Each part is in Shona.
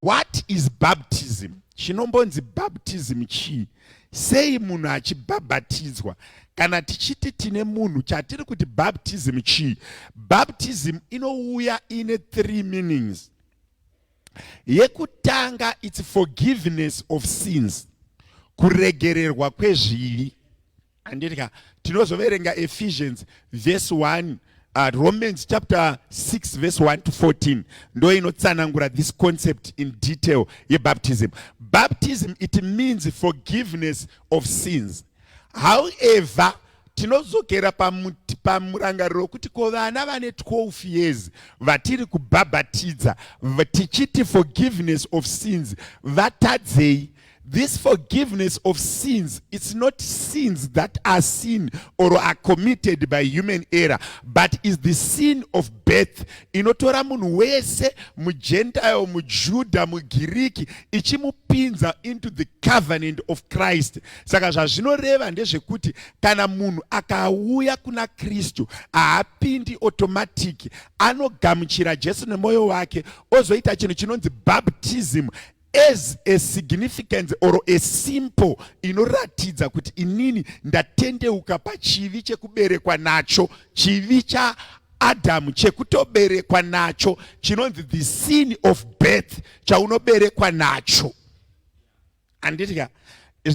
What is baptism? Chinombonzi baptism chii? Sei munhu achibhabhatidzwa? Kana tichiti tine munhu chatiri kuti baptism chii? Baptism inouya ine three meanings. Yekutanga it's forgiveness of sins, kuregererwa kwezvivi. handiti ka tinozoverenga ephesians verse 1 uh, romans chapter 6 verse 1 to 14 ndo inotsanangura this concept in detail yebaptism baptism it means forgiveness of sins however tinozokera pamurangariro wekuti ko vana vane 12 years vatiri kubhabhatidza tichiti forgiveness of sins vatadzei This forgiveness of sins, it's not sins that are sin or are committed by human error, but is the sin of birth. Inotora munhu wese, mugentile, mujuda, mugiriki, ichimupinza into the covenant of Christ. Saka zvazvinoreva ndezvekuti kana munhu akauya kuna Kristu haapindi automatic, anogamuchira Jesu nemoyo wake, ozoita chinhu chinonzi baptism as a significance or a simple inoratidza kuti inini ndatendeuka pachivi chekuberekwa nacho chivi cha Adam chekutoberekwa nacho chinonzi the sin of birth chaunoberekwa nacho anditika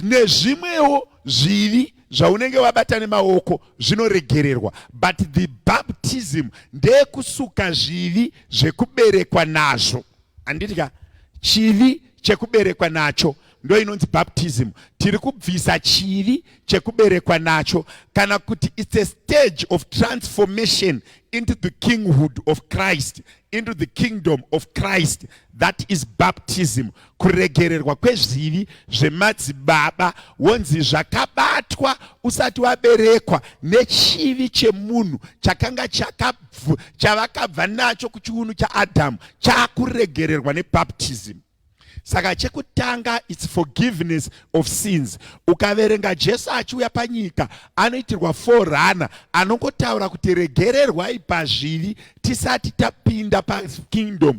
nezvimwewo zvivi zvaunenge wabata nemaoko zvinoregererwa but the baptism ndeyekusuka zvivi zvekuberekwa nazvo Handiti ka chivi chekuberekwa nacho ndo inonzi baptism tiri kubvisa chivi chekuberekwa nacho kana kuti its a stage of transformation into the kinghood of christ into the kingdom of christ that is baptism kuregererwa kwezvivi zvemadzibaba wonzi zvakabatwa usati waberekwa nechivi chemunhu chakanga chaka chavakabva nacho kuchiunu chaadhamu chakuregererwa nebaptism saka chekutanga its forgiveness of sins ukaverenga jesu achiuya panyika anoitirwa forana anongotaura kuti regererwai pazvivi tisati tapinda pakingdom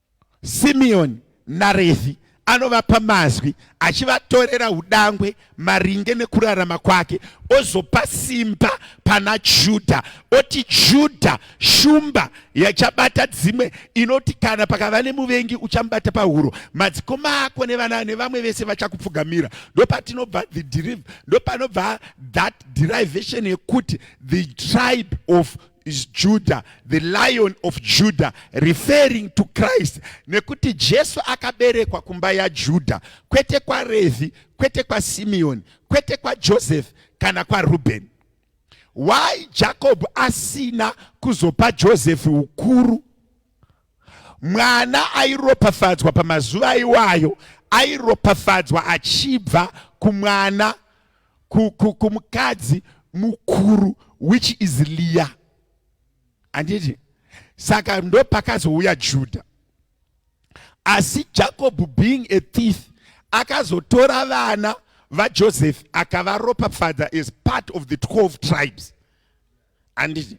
Simeoni naRevhi anovapa mazwi achivatorera udangwe maringe nekurarama kwake ozopa simba pana Judha oti Judha shumba yachabata dzimwe inoti kana pakava nemuvengi uchamubata pahuro madzikoma ako nevana nevamwe vese vachakupfugamira ndopatinobva the deriv ndopanobva that derivation yekuti the tribe of is Judah, the lion of Judah, referring to Christ. Nekuti Jesu akaberekwa kumba ya Judah, kwete kwa Revi, kwete kwa Simeon, kwete kwa Joseph, kana kwa Reuben. Why Jacob asina kuzopa Joseph ukuru? Mwana airopafadzwa pamazuva iwayo, airopafadzwa achibva kumwana kumukadzi mukuru which is Leah. Anditi saka ndopakazouya Judah. Asi Jacob being a thief akazotora vana vaJoseph akavaropafadza as part of the 12 tribes. anditi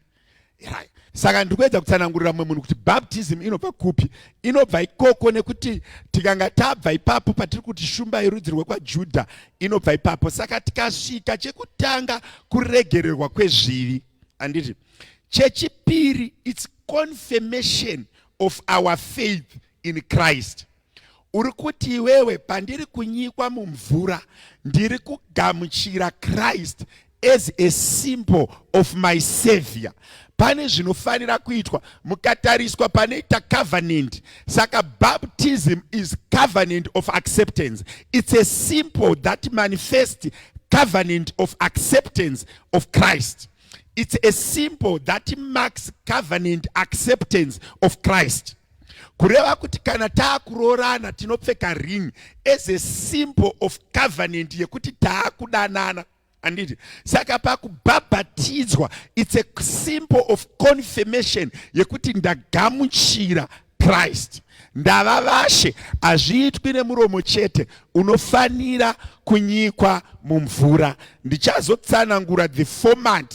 right. saka ndiri kuedza kutsanangurira mumwe munhu kuti baptism inobva kupi inobva ikoko nekuti tikanga tabva ipapo patiri kuti shumba yerudzi rwekwajudha inobva ipapo saka tikasvika chekutanga kuregererwa kwezvivi anditi chechipiri its confirmation of our faith in christ Uri kuti iwewe pandiri kunyikwa mumvura ndiri kugamuchira Christ as a symbol of my savior. Pane zvinofanira kuitwa mukatariswa panoita covenant. Saka baptism is covenant of acceptance. It's a symbol that manifests covenant of acceptance of Christ. It's a symbol that marks covenant acceptance of Christ. kureva kuti kana taakuroorana tinopfeka ring as a symbol of covenant yekuti taakudanana anditi saka pakubhabhatidzwa its a symbol of confirmation yekuti ndagamuchira christ ndava vashe hazviitwi nemuromo chete unofanira kunyikwa mumvura ndichazotsanangura the format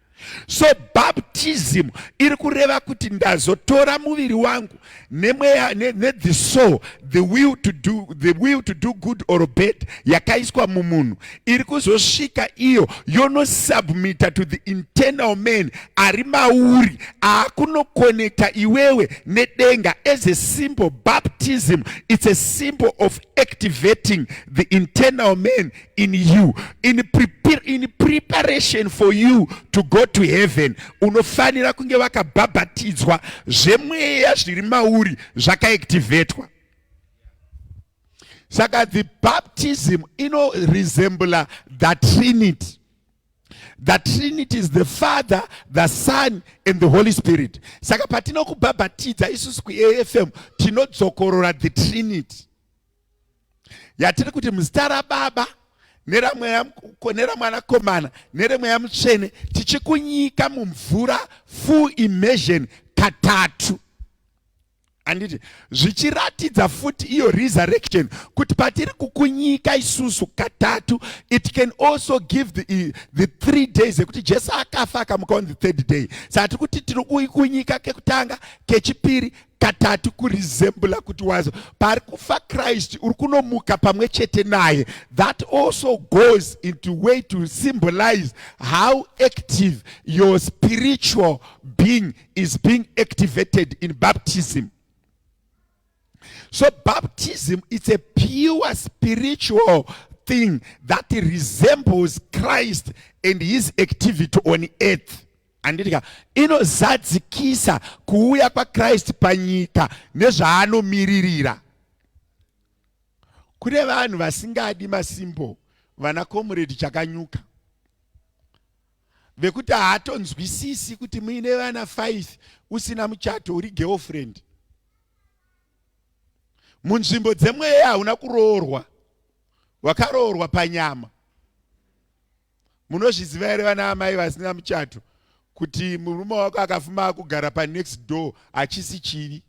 so baptism iri kureva kuti ndazotora muviri wangu nemweya ne, ne the soul the will to do the will to do good or bad yakaiswa mumunhu iri kuzosvika iyo yonosubmita to the internal man ari mauri aakunokonekta iwewe nedenga as a symbol baptism it's a symbol of activating the internal man in you in, prepare, in preparation for you to go to heaven unofanira kunge vakabhabhatidzwa zvemweya zviri mauri zvakaactivetwa saka the baptism ino resembla the trinity the trinity is the father the son and the holy spirit saka patinokubhabhatidza isusu kuafm tinodzokorora the trinity yatiri kuti muzita rababa neramwanakomana neremweya mutsvene tichikunyika mumvura full immersion katatu handiti zvichiratidza futi iyo resurrection kuti patiri kukunyika isusu katatu it can also give the, the three days ekuti jesu akafa akamuka on the third day saka tiri kuti tiri kukunyika kekutanga kechipiri katatu kurizembula kuti wazo pari kufa christ uri kunomuka pamwe chete naye that also goes into way to symbolize how active your spiritual being is being activated in baptism so baptism it's a pure spiritual thing that resembles christ and his activity on earth Anditika inozadzikisa kuuya kwaKristu panyika nezvaanomiririra. Kune vanhu vasingadi masimbo vana comrade chakanyuka vekuti haatonzwisisi kuti muine vana five usina muchato uri girlfriend munzvimbo dzemweya hauna kuroorwa wakaroorwa panyama munozviziva here vana amai vasina muchato kuti murume wako akafuma akugara panext door achisi chivi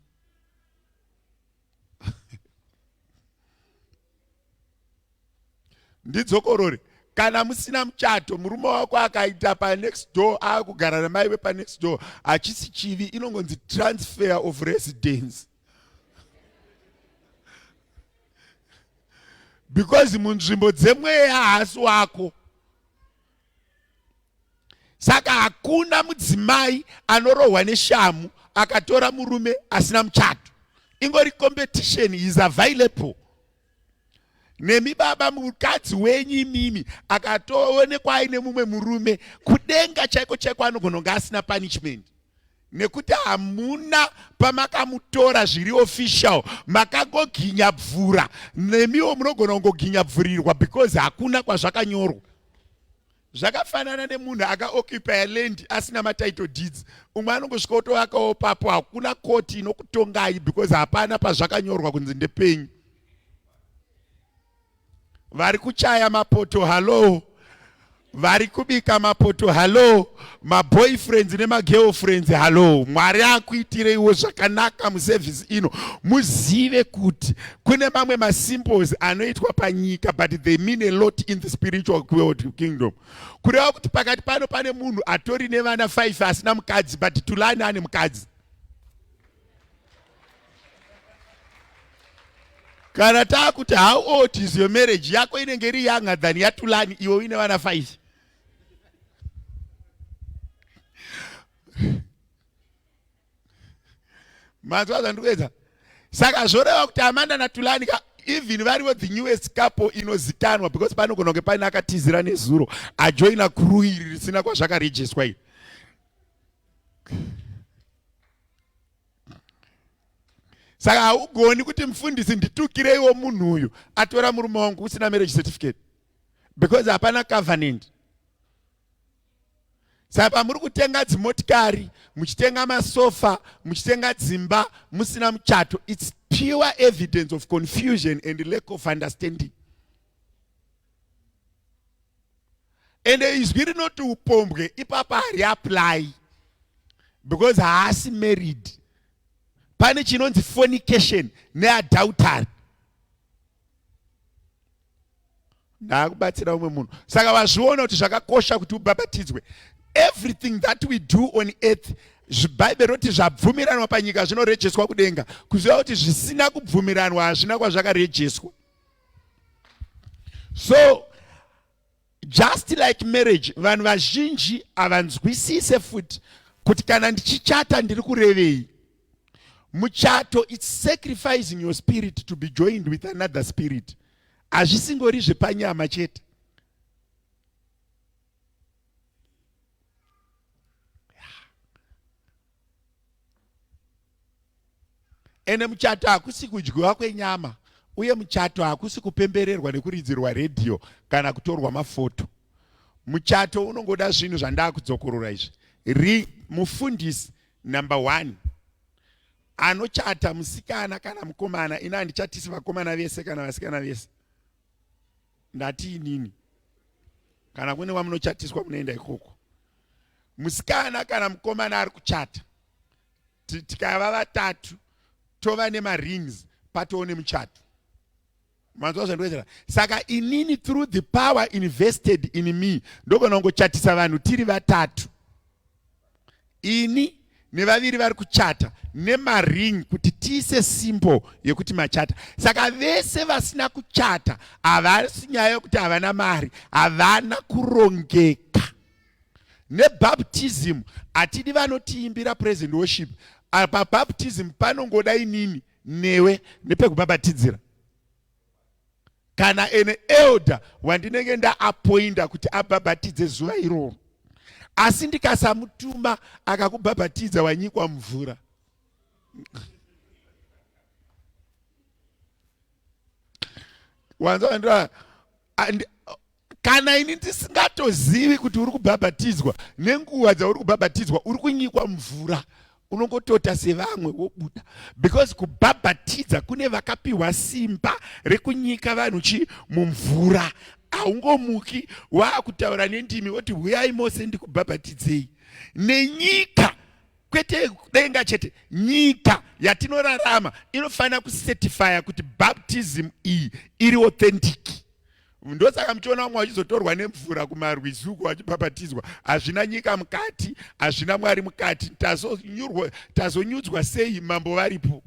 ndidzokorore kana musina muchato murume wako akaita panext door akugara namai vepanext door achisi chivi inongonzi transfer of residence because munzvimbo dzemweya haasi wako saka hakuna mudzimai anorohwa neshamu akatora murume asina muchato ingori competition is available nemi baba mukadzi wenyu imimi akatoonekwa aine mumwe murume kudenga chaiko chaiko anogona kunge asina punishment nekuti hamuna pamakamutora zviri official makagoginyabvura nemiwo munogona kungoginyabvurirwa because hakuna kwazvakanyorwa zvakafanana nemunhu akaoccupya land asina matitle deeds umwe anongosvika otovakawo papo hakuna koti inokutongai because hapana pazvakanyorwa kunzi ndepenyu vari kuchaya mapoto hallo vari kubika mapoto hallo maboyfriends nemagirlfriends hallo mwari akuitireiwo zvakanaka muservice ino muzive kuti kune mamwe masimples anoitwa panyika but they mean a lot in the spiritual world kingdom kureva kuti pakati pano pane munhu atori nevana 5 asina mukadzi but tulani ane mukadzi kana taakuti how old is your marriage yako inenge iri yanga than yatulani iwe uine vana 5 mazvaza ndikuedza saka zvoreva kuti amanda natulani ka even varivo the newest couple inozikanwa because panogona kunge paine akatizira nezuro ajoina kuru iri risina kwazvakarejiswa iri saka haugoni kuti mufundisi nditukireiwo munhu uyu atora murume wangu usina marriage certificate because hapana covenant saka pamuri kutenga dzimotikari muchitenga masofa muchitenga dzimba musina muchato its pure evidence of confusion and lack of understanding and izwi rinoti upombwe ipapa hari apply because haasi married pane chinonzi fornication neadultery ndaakubatsira umwe munhu saka vazviona kuti zvakakosha kuti ubhabhatidzwe everything that we do on earth zvibhaibheri roti zvabvumiranwa panyika zvinorejeswa kudenga kuziva kuti zvisina kubvumiranwa hazvina kwazvakarejeswa so Just like marriage, vanhu vazhinji havanzwisise futi kuti kana ndichichata ndiri kurevei. Muchato it's sacrificing your spirit to be joined with another spirit. Hazvisingori zvepanyama chete. ende muchato hakusi kudyiwa kwenyama uye muchato hakusi kupembererwa nekuridzirwa redhiyo kana kutorwa mafoto muchato unongoda zvinhu zvandakudzokorora izvi ri mufundisi number one anochata musikana kana mukomana ini handichatisi vakomana vese kana vasikana vese ndati inini kana kune vamunochatiswa munoenda ikoko musikana kana mukomana ari kuchata tikava vatatu tova nemarings patoo nemuchato manzwa zvandiwedzera saka inini through the power invested in me ndogona kungochatisa vanhu tiri vatatu ini nevaviri vari kuchata nemaring kuti tiise simple yekuti machata saka vese vasina kuchata havasi nyaya yekuti havana mari havana kurongeka nebaptism hatidi vanotiimbira praise and worship apa baptism panongoda inini newe nepekubhabhatidzira kana ene elder wandinenge ndaapoinda kuti abhabhatidze zuva iroro asi ndikasamutuma akakubhabhatidza wanyikwa mvura wanzaa kana ini ndisingatozivi kuti uri kubhabhatidzwa nenguva dzauri kubhabhatidzwa uri kunyikwa mvura unongotota sevamwe wobuda because kubhabhatidza kune vakapiwa simba rekunyika vanhu chi mumvura haungomuki waakutaura nendimi woti huyai mose ndikubhabhatidzei nenyika kwete denga chete nyika yatinorarama inofanira kusetifaya kuti baptism iyi iri authentic ndosaka muchiona vamwe vachizotorwa nemvura kumarwizi uko vachibhabhatidzwa hazvina nyika mukati hazvina mwari mukati tazonyudzwa sei mambo varipo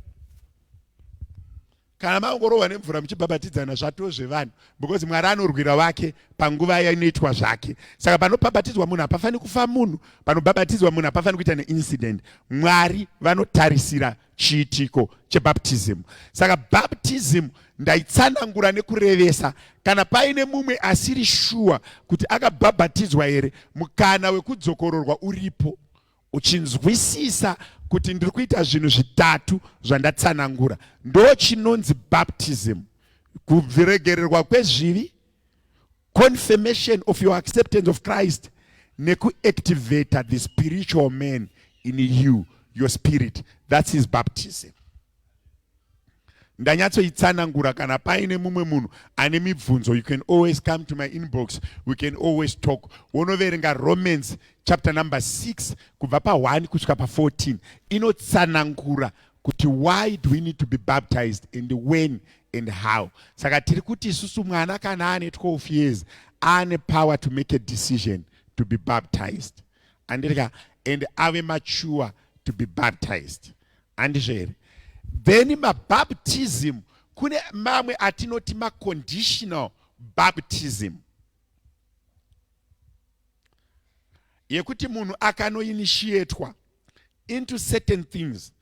kana mangorohwa nemvura muchibhabhatidzana zvatoo zvevanhu because mwari anorwira vake panguva yainoitwa zvake saka panobhabhatidzwa munhu hapafaniri kufa munhu panobhabhatidzwa munhu hapafaniri kuita neincident mwari vanotarisira chiitiko chebaptism. Saka baptism ndaitsanangura nekurevesa kana paine mumwe asiri shuwa kuti akabhabhatidzwa here, mukana wekudzokororwa uripo uchinzwisisa kuti ndiri kuita zvinhu zvitatu zvandatsanangura. Ndo chinonzi baptism, kubviregererwa kwezvivi, confirmation of your acceptance of christ nekuactivator the spiritual man in you your spirit thats his baptism ndanyatsoitsanangura kana paine mumwe munhu ane mibvunzo you can always come to my inbox we can always talk wonoverenga romans chapter number 6 kubva pa1 kusvika pa14 inotsanangura kuti why do we need to be baptized and when and how saka tiri kuti isusu mwana kana ane 12 years aane power to make a decision to be baptized andirika and ave mature to be baptized handizvo here then mabaptism kune mamwe atinoti maconditional baptism yekuti munhu akanoinishietwa into certain things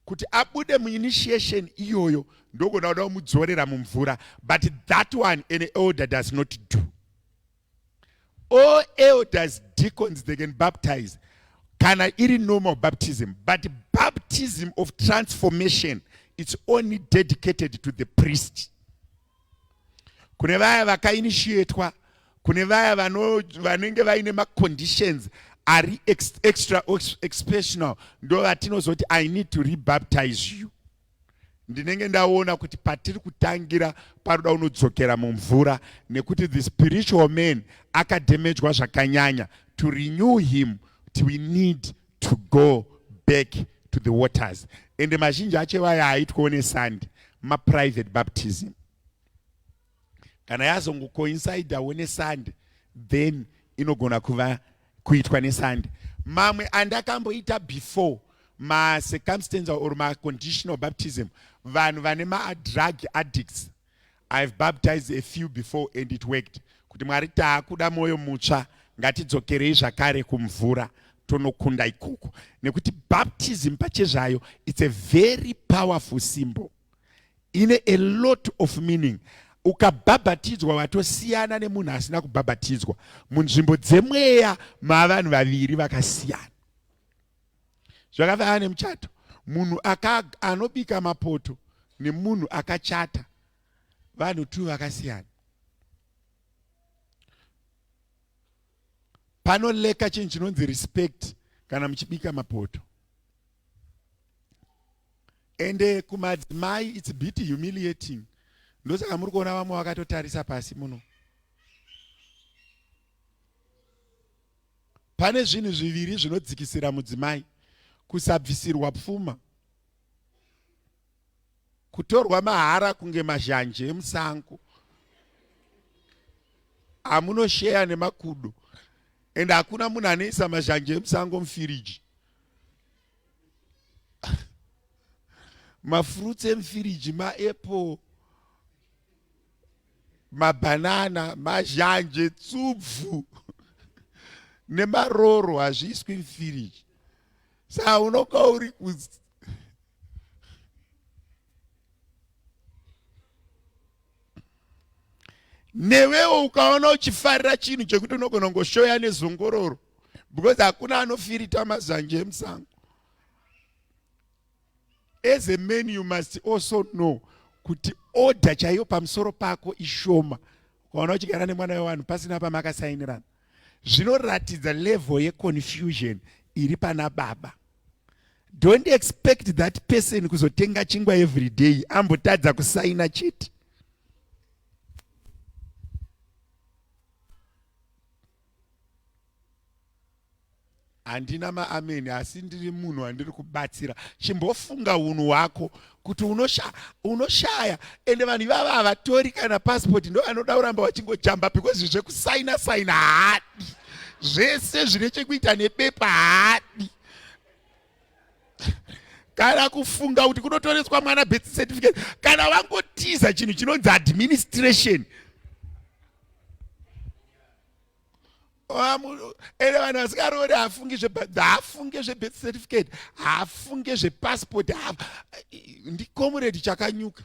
kuti abude muinitiation iyoyo ndogona kuda kumudzorera mumvura but that one an elder does not do all elders deacons they can baptize kana iri normal baptism but baptism of transformation it's only dedicated to the priest kune vaya vakainitiatwa kune vaya vanenge vaine maconditions ari extra expressional ndo vatinozoti i need to rebaptize you ndinenge ndaona kuti patiri kutangira paroda unodzokera mumvura nekuti the spiritual man akademejwa zvakanyanya to renew him kuti we need to go back to the waters ende mazhinji acho vaya aitwawo nesandi maprivate baptism kana yazongokoincidawo nesandi then inogona kuva kuitwa nesandi mamwe andakamboita before macircumstantial or maconditional baptism vanhu vane maadrug addicts I've baptized a few before and it worked kuti mwari taakuda mwoyo mutsva ngatidzokerei zvakare kumvura tonokunda ikoko nekuti baptism pachezvayo it's a very powerful symbol ine a lot of meaning ukabhabhatidzwa watosiyana nemunhu asina kubhabhatidzwa munzvimbo dzemweya maavanhu vaviri vakasiyana zvakafanana nemuchato munhu anobika mapoto nemunhu akachata vanhu two vakasiyana panoleka chinhu chinonzi respect kana muchibika mapoto ende kumadzimai its bit humiliating ndosaka muri kuona vamwe vakatotarisa pasi muno pane zvinhu zviviri zvinodzikisira mudzimai kusabvisirwa pfuma kutorwa mahara kunge mazhanje emusango amunosheya nemakudo and hakuna munhu anoisa mazhanje emusango mufiriji mafruits emufiriji maapple mabhanana mazhanje tsubvu nemaroro hazviiswi mfiriji saa unoka uri kuz newewo ukaona uchifarira chinhu chekuti unogona kungoshoya nezongororo because hakuna anofirita mazhanje emusango as a man you must also know kuti order chaiyo pamusoro pako ishoma ukaona uchigara nemwana wevanhu pasina pamakasainirana zvinoratidza level yeconfusion iri pana baba don't expect that person kuzotenga chingwa every day ambotadza kusaina chete handina maameni asi ndiri munhu wandiri kubatsira chimbofunga unhu hwako kuti unoshaya unoshaya ende vanhu ivava havatori kana passport ndo vanoda kuramba vachingojamba because zvekusaina saina haadi zvese zvine chekuita nebepa haadi kana kufunga kuti kunotoreswa mwana birth certificate kana vangotiza chinhu chinonzi administration ende vanhu vasikaroori haafungi zvehaafunge zvebirth certificate haafunge zvepassport ndikomuredi chakanyuka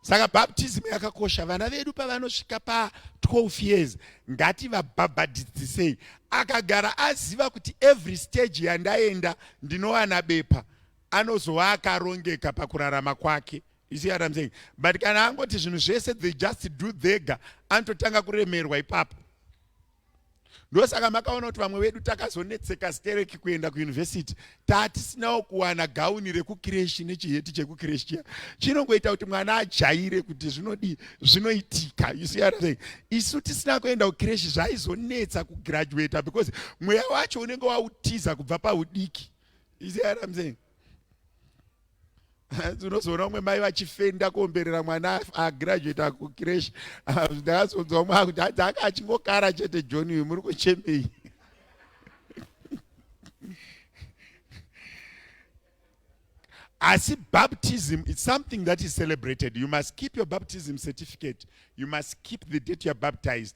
saka baptism yakakosha vana vedu pavanosvika pa12 years ngativabhabhadhidzisei akagara aziva kuti every stage yandaenda ndinowana bepa anozova akarongeka pakurarama kwake You see what I'm saying? But kana angoti zvinhu zvese they just do dhega anototanga kuremerwa ipapo. Ndosaka makaona kuti vamwe vedu takazonetseka stereki kuenda kuyunivhesiti tatisinawo kuwana gauni rekukireshi nechiheti chekukireshi chiya chinongoita kuti mwana ajaire kuti zvinodii zvinoitika you see what I'm saying? Isu tisina kuenda kukireshi zvaizonetsa kugraduata because mweya wacho unenge wautiza kubva paudiki. You see what I'm saying? unozoona umwe mai vachifenda kuomberera mwana agraduate akukireshi ndakazonzwa umwe akuti hanzi anga achingokara chete john uyu muri kuchemei asi baptism is something that is celebrated you must keep your baptism certificate you must keep the date youare baptized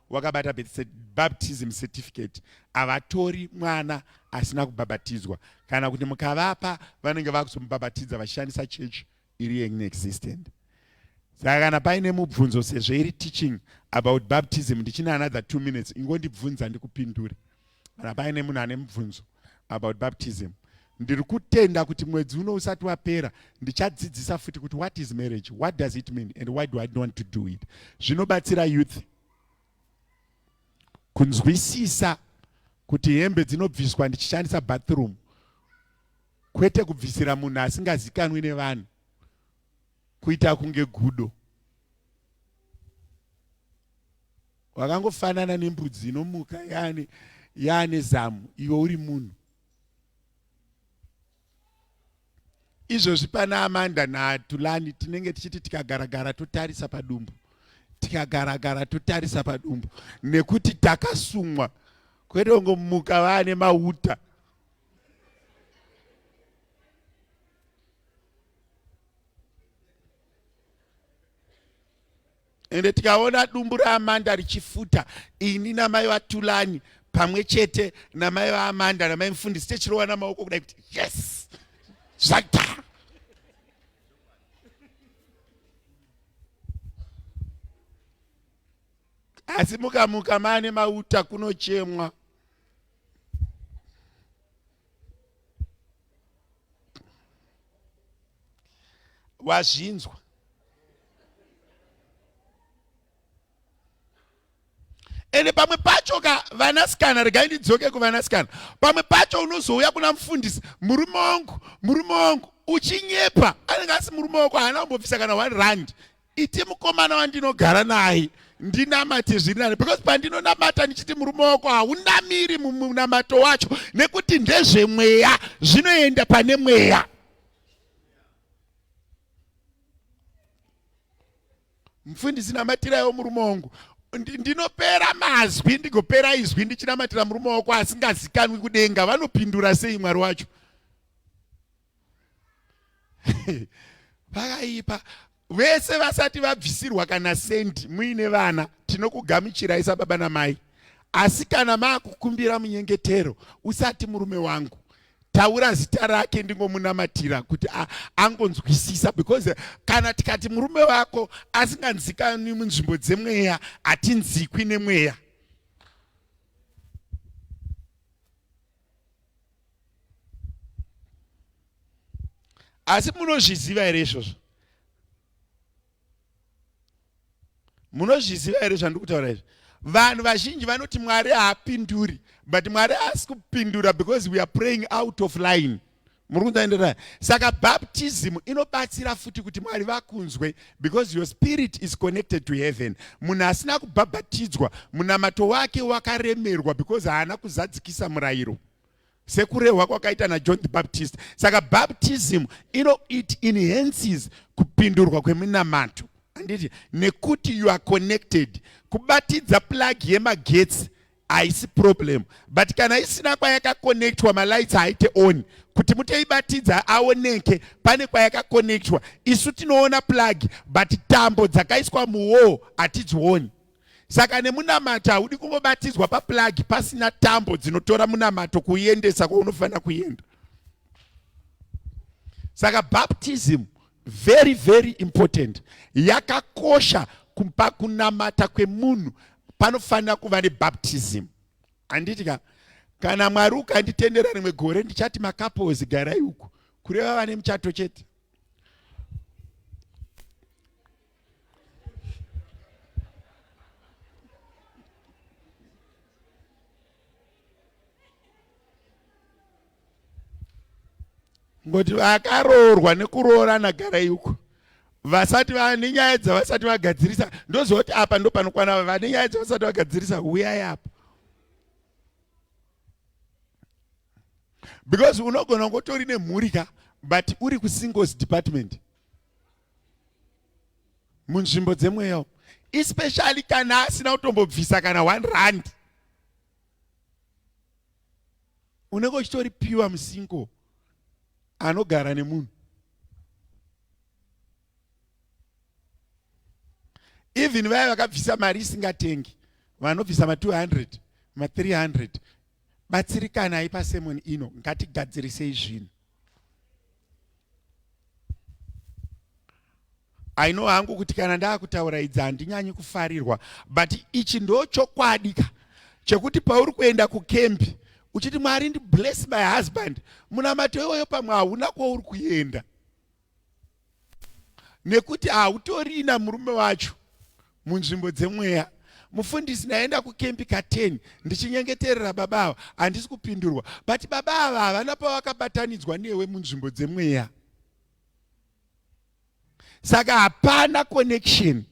wakabata baptism certificate havatori mwana asina kubhabhatidzwa kana kuti mukavapa vanenge vakuzomubhabhatidza vachishandisa church iri yeexistent saka kana paine mubvunzo sezvo iri teaching about baptism ndichinanadza two minutes ingondibvunza ndikupindure kana paine munhu ane mubvunzo about baptism ndiri kutenda kuti mwedzi uno usati wapera ndichadzidzisa futi kuti what is marriage what does it mean and why do i want to do it zvinobatsira youth kunzwisisa kuti hembe dzinobviswa ndichishandisa bathroom kwete kubvisira munhu asingazikanwi nevanhu kuita kunge gudo wakangofanana nembudzi inomuka yaane yaane zamu iwe uri munhu izvozvi pana amanda natulani tinenge tichiti tikagaragara totarisa padumbu tikagaragara totarisa padumbu nekuti takasumwa kwete kungomuka vaane mauta ende tikaona dumbu raamanda richifuta ini namai vatulani pamwe chete namai vaamanda namai mufundisi techirova namaoko kudai kuti yes zvaita asi mukamuka maane mauta kunochemwa wazvinzwa ende pamwe pacho ka vanasikana regai ndidzoke kuvanasikana pamwe pacho unozouya kuna mufundisi murume wangu murume wangu uchinyepa anenge asi murume wako haana kumbobvisa kana one rand iti mukomana wandinogara naye ndinamate zviri nani because pandinonamata ndichiti murume wako haunamiri mumunamato wacho nekuti ndezvemweya zvinoenda pane mweya mfundisi namatirayo murume wangu ndinopera mazwi ndigopera izwi ndichinamatira murume wako asingazikanwi kudenga vanopindura sei mwari wacho vakaipa vese vasati vabvisirwa kana sendi muine vana tinokugamuchirai sababa namai asi kana maakukumbira munyengetero usati murume wangu taura zita rake ndingomunamatira kuti angonzwisisa because kana tikati murume wako asinganzikani munzvimbo dzemweya hatinzikwi nemweya asi munozviziva here izvozvo munozviziva here zvandiri kutaura izvi vanhu vazhinji vanoti mwari haapinduri but mwari haasi kupindura because we are praying out of line muri kunzaenderana saka baptism inobatsira futi kuti mwari vakunzwe because your spirit is connected to heaven munhu asina kubhabhatidzwa munamato wake wakaremerwa because haana kuzadzikisa murayiro sekurehwa kwakaita najohn the baptist saka baptism ino it enhances kupindurwa kweminamato anditi nekuti you are connected kubatidza plug yemagetsi haisi problem but kana isina kwayakakonectwa malights haaite on kuti mutoibatidza aoneke pane kwayakakonectwa isu tinoona plug but tambo dzakaiswa muwall hatidzioni saka nemunamato haudi kungobatidzwa paplug pasina tambo dzinotora munamato kuiendesa kwaunofanira kuenda saka baptism very very important yakakosha kumba kunamata kwemunhu panofanira kuva nebaptism handiti ka kana mwari ukanditendera rimwe gore ndichati makapozi garai uku kureva vane muchato chete ngoti vakaroorwa nekuroorana garai uko vasati vane nyaya dzavasati vagadzirisa ndozoti apa ndopanokwana vane nyaya dzavasati vagadzirisa huyai apo because unogona kungotori nemhuri ka but uri kusingles department munzvimbo dzemweya especially kana asina kutombobvisa kana one rand unenge uchitori pure musingle anogara nemunhu even vaya vakabvisa mari isingatengi vanobvisa ma 200 ma 300 batsirikanai pasemon ino ngatigadzirisei zvinhu I know hangu kuti kana ndakutaura idzi handinyanyi kufarirwa but ichi ndo chokwadi ka chekuti pauri kuenda kukembi uchiti mwari ndi bless my husband munamato iwoyo pamwe hauna kwauri kuenda nekuti hautorina murume wacho munzvimbo dzemweya mufundisi ndaenda kukempi ka10 ndichinyengeterera baba ava handisi kupindurwa but baba ava havana pavakabatanidzwa newe munzvimbo dzemweya saka hapana connection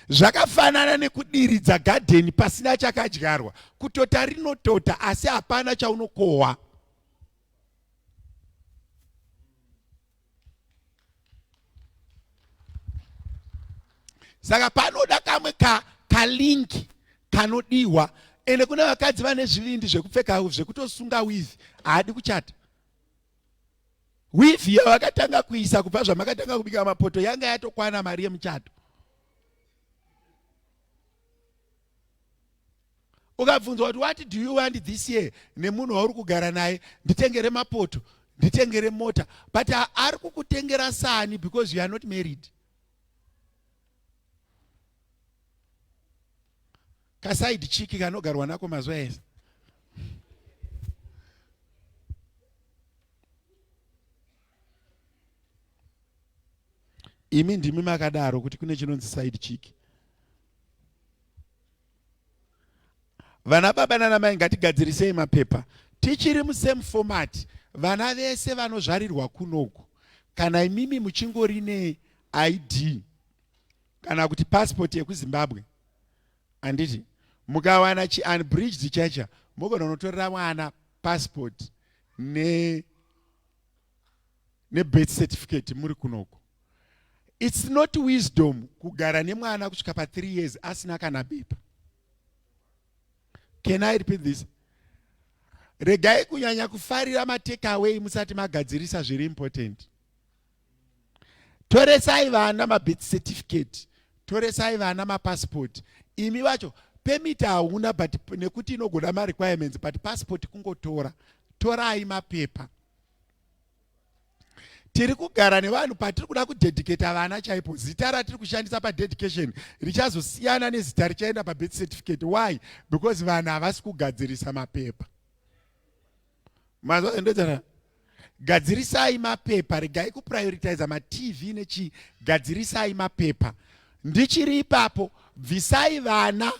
zvakafanana nekudiridza gadheni pasina chakadyarwa kutota rinotota asi hapana chaunokohwa saka panoda kamwe ka kalingi kanodiwa ende kune vakadzi vane zvivindi zvekupfeka zvekutosunga wivi haadi kuchata wivi yavakatanga kuisa kubva zvamakatanga kubika mapoto yanga yatokwana mari yemuchato ukabvunzwa kuti what do you want this year nemunhu wauri kugara naye nditengere mapoto nditengere mota but ari kukutengera sani because you are not married kasaidi chiki kanogarwa nako mazuva ese imi ndimi makadaro kuti kune chinonzi side chiki vana baba nana mai ngatigadzirisei mapepa tichiri musame format vana vese vanozvarirwa kunoku kana imimi muchingori ne id kana kuti passport yekuzimbabwe handiti mukawana chi unbridged chacha mogona unotorera mwana passport ne nebirth certificate muri kunoko its not wisdom kugara nemwana kusvika pa three years asina kana bepa can i repeat this regai kunyanya kufarira matekaway musati magadzirisa zviri important toresai vana mabirth certificate toresai vana mapassport imi vacho pemit hauna but nekuti inogona marequirements but passport kungotora torai mapepa tiri kugara nevanhu patiri kuda kudedicata vana chaipo zita ratiri kushandisa padedication richazosiyana nezita richaenda pabirth certificate why because vanhu havasi kugadzirisa mapepa mazvaendodzana gadzirisai mapepa regai kuprioritiza matv nechii gadzirisai mapepa ndichiri ipapo bvisai vana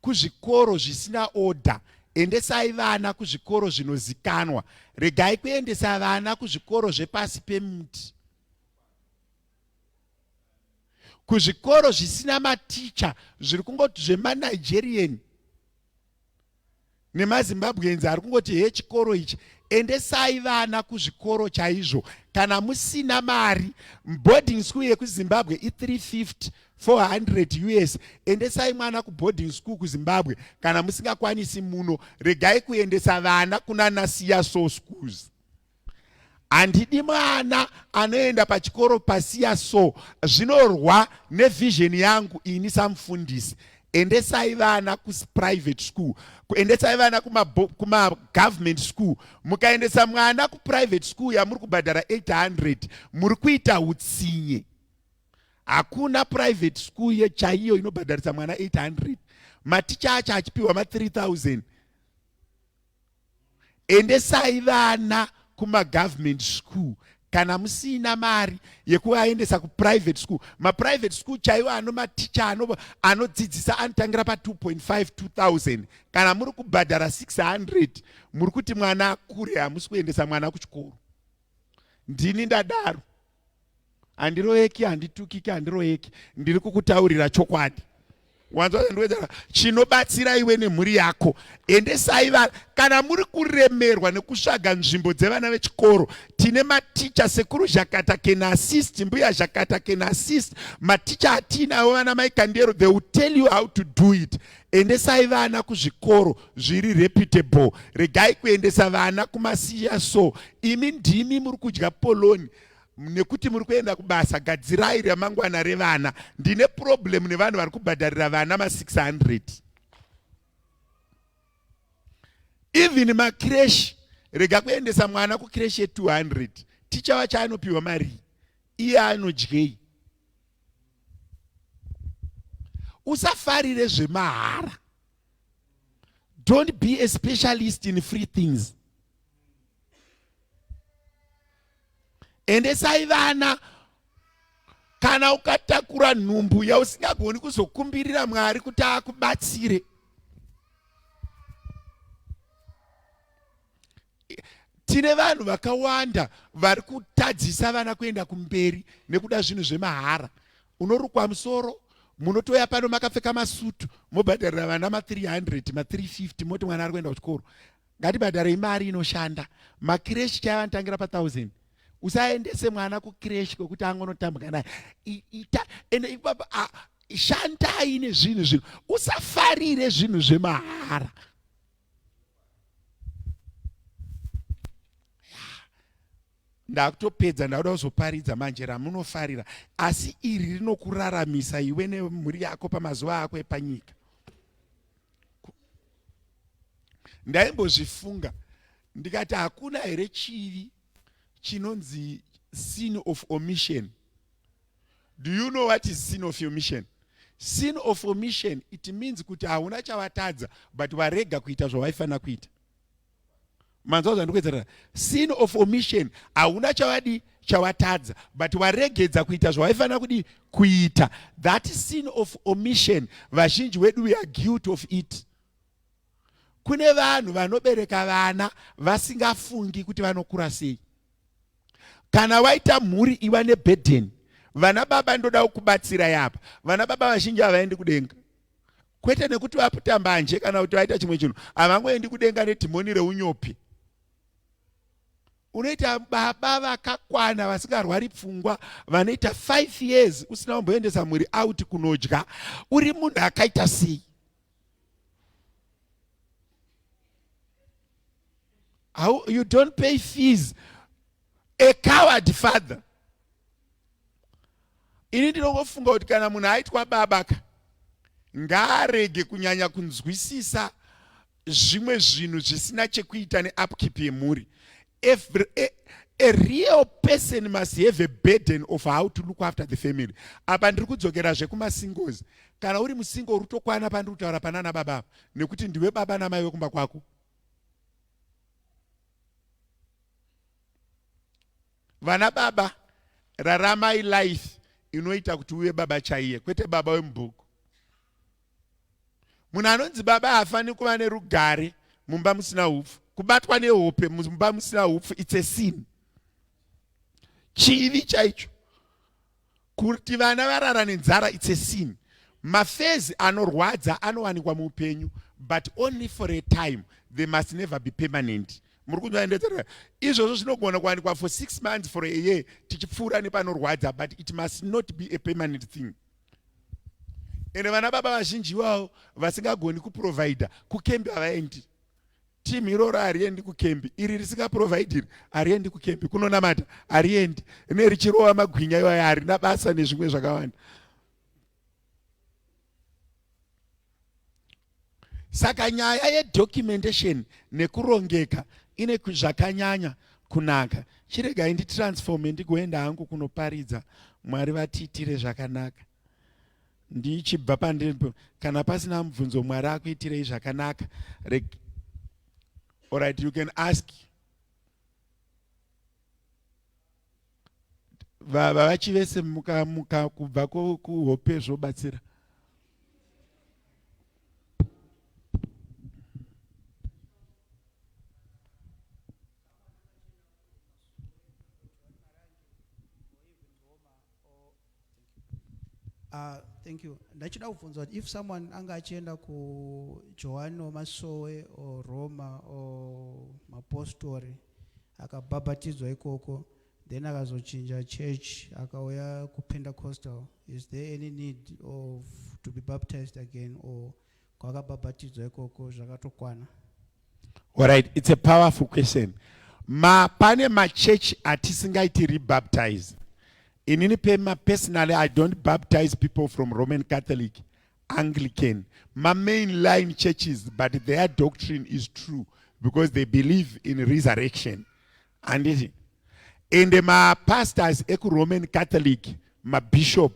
kuzvikoro zvisina order endesai vana kuzvikoro zvinozikanwa regai kuendesa vana kuzvikoro zvepasi pemuti kuzvikoro zvisina maticha zviri kungoti zvemanigerian nemazimbabweans ari kungoti he chikoro ichi endesai vana kuzvikoro chaizvo kana musina mari boarding school yekuzimbabwe i350 400 us endesai mwana kuboarding school kuzimbabwe kana musingakwanisi muno regai kuendesa vana kunanasiya so schools handidi mwana anoenda pachikoro pasiya so zvinorwa nevision yangu ini samufundisi endesai vana kuprivate school kuendesai vana kumagovernment kuma school mukaendesa mwana kuprivate school yamuri kubhadhara 800 muri kuita utsinye hakuna private school yechaiyo inobhadharisa mwana 800 maticha acho achipiwa ma 3000 endesai vana kumagovernment school kana musina mari yekuvaendesa kuprivate school maprivate school chaiwo ano maticha ano anodzidzisa anotangira pa 2.5 2000 kana muri kubhadhara 600 muri kuti mwana akure hamusi kuendesa mwana kuchikoro ndini ndadaro handiroyeki handitukiki handiroyeki ndiri kukutaurira chokwadi wanzwa zvandiwedzera chinobatsira iwe nemhuri yako endesai vana kana muri kuremerwa nekusvaga nzvimbo dzevana vechikoro tine maticha sekuru zhakata can assist mbuya zhakata can assist maticha atiinawo vana mai kandero they will tell you how to do it endesai vana kuzvikoro zviri reputable regai kuendesa vana kumasiya so imi ndimi muri kudya poloni nekuti muri kuenda kubasa gadzirai ramangwana revana ndine problem nevanhu vari kubhadharira vana ma600 even makreshi rega kuendesa mwana kukreshi ye200 ticha wacho anopiwa marii iye anodyei usafarire zvemahara don't be a specialist in free things endesai vana kana ukatakura nhumbu yausingagoni kuzokumbirira mwari kuti akubatsire tine vanhu vakawanda vari kutadzisa vana kuenda kumberi nekuda zvinhu zvemahara unorukwa musoro munotouya pano makapfeka masutu mobhadharira vana ma300 ma350 moti mwana ari kuenda kuchikoro ngatibhadharei mari inoshanda makireshi chaiva anotangira pa1000 usaendese mwana kukireshi kwekuti angonotambwa naye ita ende ipapa shandai nezvinhu zvinhu usafarire zvinhu zvemahara ndakutopedza ndakuda kuzoparidza manje ramunofarira asi iri rinokuraramisa iwe nemhuri yako pamazuva ako epanyika ndaimbozvifunga ndikati hakuna here chivi chinonzi sin of omission do you know what is sin of omission sin of omission it means kuti hauna chavatadza but varega kuita zvavaifanira kuita manzwa zvandikuedzera sin of omission hauna chavadi chavatadza but varegedza kuita zvavaifanira kudi kuita that sin of omission vazhinji wedu we are guilt of it kune vanhu vanobereka vana vasingafungi kuti vanokura sei kana waita mhuri iva nebhedheni vana baba ndoda kukubatsira yapa vana baba vazhinji havaendi kudenga kwete nekuti vaputa mbanje kana kuti vaita chimwe chinhu havangoendi kudenga nedhimoni reunyopi unoita baba vakakwana vasingarwari pfungwa vanoita five years usina kumboendesa mhuri auti kunodya uri munhu akaita sei How, you don't pay fees a coward father ini ndinongofunga kuti kana munhu aitwa baba ka ngaarege kunyanya kunzwisisa zvimwe zvinhu zvisina chekuita neupkeep yemhuri A, a, a real person must have a burden of how to look after the family apa ndiri kudzokera zvekumasingles kana uri musingle uri kutokwana pandiri kutaura panana baba apa nekuti ndiwe baba namai vekumba kwako vana baba raramai life inoita kuti uve baba chaiye kwete baba wemubhuku munhu anonzi baba haafaniri kuva nerugare mumba musina upfu kubatwa nehope mumba musina upfu its a sin chivi chaicho kuti vana varara nenzara its a sin mafezi anorwadza anowanikwa muupenyu but only for a time they must never be permanent muri kunzwaendedzera izvozvo zvinogona kuwanikwa for six months for a year tichipfuura nepanorwadza but it must not be a permanent thing ende vana baba vazhinji iwawo vasingagoni kuprovhaidha kukembi havaendi timu iroro hariendi kukembi iri risingaprovhaidhiri hariendi kukembi kunonamata hariendi ne richirova magwinya iwayo harina basa nezvimwe zvakawanda saka nyaya yedocumentation nekurongeka ine zvakanyanya kunaka chiregai nditransforme ndigoenda hangu kunoparidza mwari vatiitire zvakanaka ndichibva pandiri kana pasina mubvunzo mwari akuitirei zvakanaka orit you can ask vavachi vese muka, muka kubva kuhope zvobatsira Uh, thank you. Ndachida kubvunza if someone anga achienda ku Joan or Masowe or Roma or Mapostori akabhabhatidzwa ikoko then akazochinja church akauya ku Pentecostal is there any need of to be baptized again or kwakabhabhatidzwa ikoko zvakatokwana Alright, it's a powerful question. Ma pane ma church atisingaiti rebaptize. Inini pema personally I don't baptize people from Roman Catholic, Anglican, ma main line churches but their doctrine is true because they believe in resurrection. handiti ende mapastors ekuroman catholic mabishop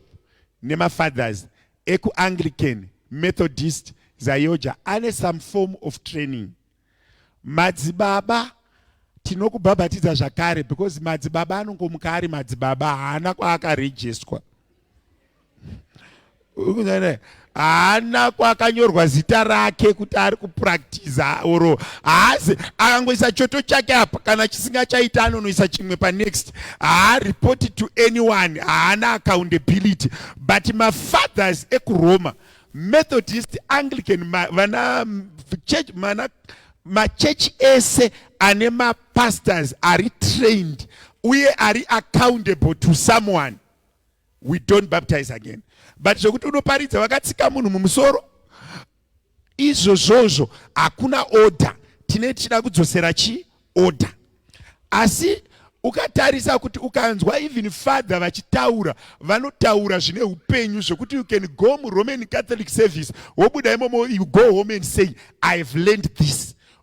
nemafathers ekuanglican methodist zayoja ane some form of training madzibaba tinokubhabhatidza zvakare because madzibaba anongomuka ari madzibaba haana kwaakarejestwa haana kwakanyorwa zita rake kuti ari kupractiza or haazi akangoisa choto chake apa kana chisinga chaita anonoisa chimwe panext haareport to anyone haana accountability but mafathers ekuroma methodist anglican vana church mana machechi ese ane mapastors ari trained uye ari accountable to someone we don't baptize again but zvekuti unoparidza vakatsika munhu mumusoro izvozvozvo hakuna order tine tichida kudzosera chi order asi ukatarisa kuti ukanzwa even father vachitaura vanotaura zvine upenyu zvekuti you can go muroman catholic service wobuda imomo you go home and say i have learned this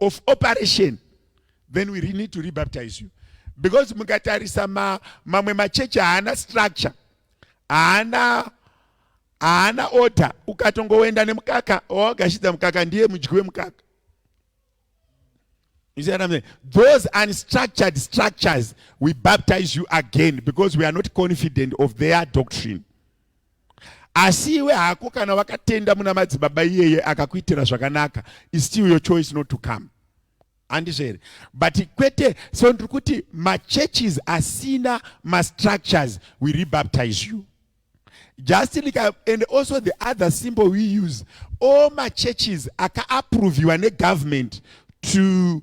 of operation then we need to rebaptize you because mukatarisa ma, mamwe machechi haana structure haana haana order ukatongoenda nemukaka wawagashidza mukaka ndiye mudyi wemukaka You see what I'm saying? Those unstructured structures, we baptize you again because we are not confident of their doctrine. asi iwe hako kana wakatenda muna madzibaba iyeye akakuitira zvakanaka is still your choice not to come handizvo here but kwete so ndiri kuti machurches asina mastructures we rebaptize you just like I, and also the other symbol we use all machurches akaapproviwa negovernment to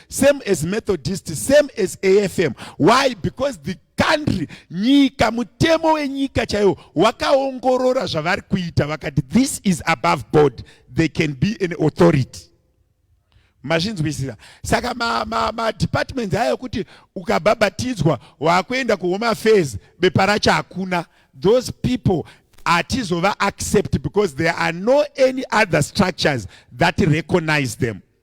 same as methodist same as afm why because the country nyika mutemo wenyika chaiwo wakaongorora zvavari kuita vakati this is above board they can be an authority mazvinzwisisa saka madepartments ma, ma ayo kuti ukabhabhatidzwa waakuenda kuhome affairs bepa racho hakuna those people hatizova accept because there are no any other structures that recognize them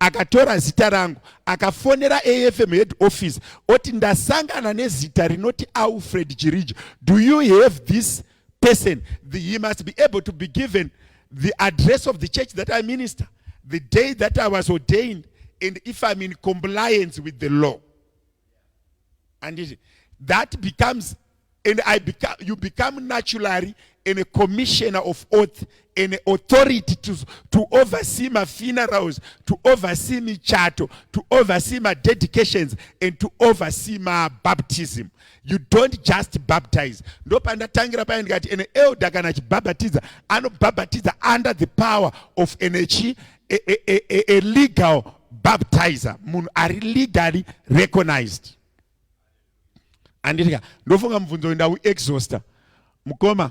akatora zita rangu akafonera afm head office oti ndasangana nezita rinoti alfred chiriji do you have this person the, he must be able to be given the address of the church that i minister the day that i was ordained and if i'm in compliance with the law handiti that becomes and I become, you become naturally and a commissioner of oath and authority to, to oversee my funerals, to oversee my charter, to oversee my dedications and to oversee my baptism. You don't just baptize. Ndopandatangira paya ndikati an elder kana achibhabhatidza anobhabhatidza under the power of an a, a, a, a legal baptizer munhu ari legally recognized anditika ndofunga mubvunzo uyu ndauexhausta mukoma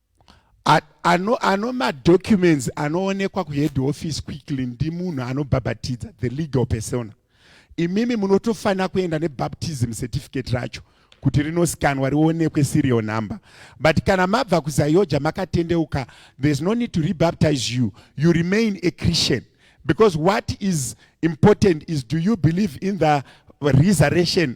ano ano madocuments anoonekwa kuhead office quickly ndimunhu anobhabhatidza the legal persona imimi munotofanira kuenda nebaptism certificate racho kuti rinoskanwa rionekwe serial number but kana mabva kuzayoja makatendeuka there's no need to rebaptize you you remain a christian because what is important is do you believe in the resurrection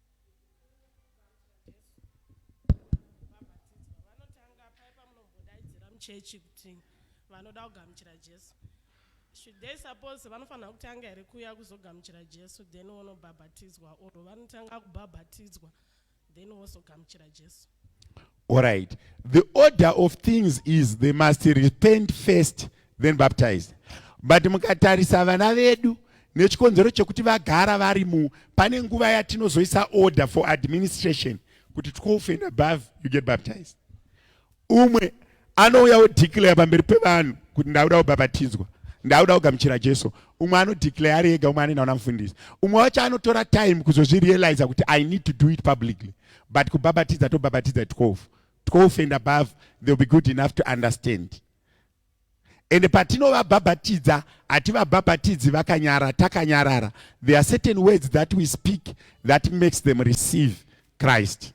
chechi kuti vanoda kugamuchira jesu should they suppose vanofanira kutanga here kuuya kuzogamuchira jesu then wonobhabhatidzwa or vanotanga kubhabhatidzwa then wozogamuchira jesu All right. The order of things is they must repent first then baptize. But mukatarisa vana vedu nechikonzero chekuti vagara vari mu pane nguva yatinozoisa order for administration kuti 12 and above you get baptized. Umwe anouya odeclare pamberi pevanhu kuti ndakuda kubhabhatidzwa ndakuda kugamuchira jesu umwe anodeclare ari ega umwe anoenda kuna mufundisi umwe wacho anotora time kuzozvirealiza kuti i need to do it publicly but kubhabhatidza tobhabhatidza 12 12 and above they'll be good enough to understand ende patinovabhabhatidza hativabhabhatidzi vakanyara takanyarara there are certain words that we speak that makes them receive christ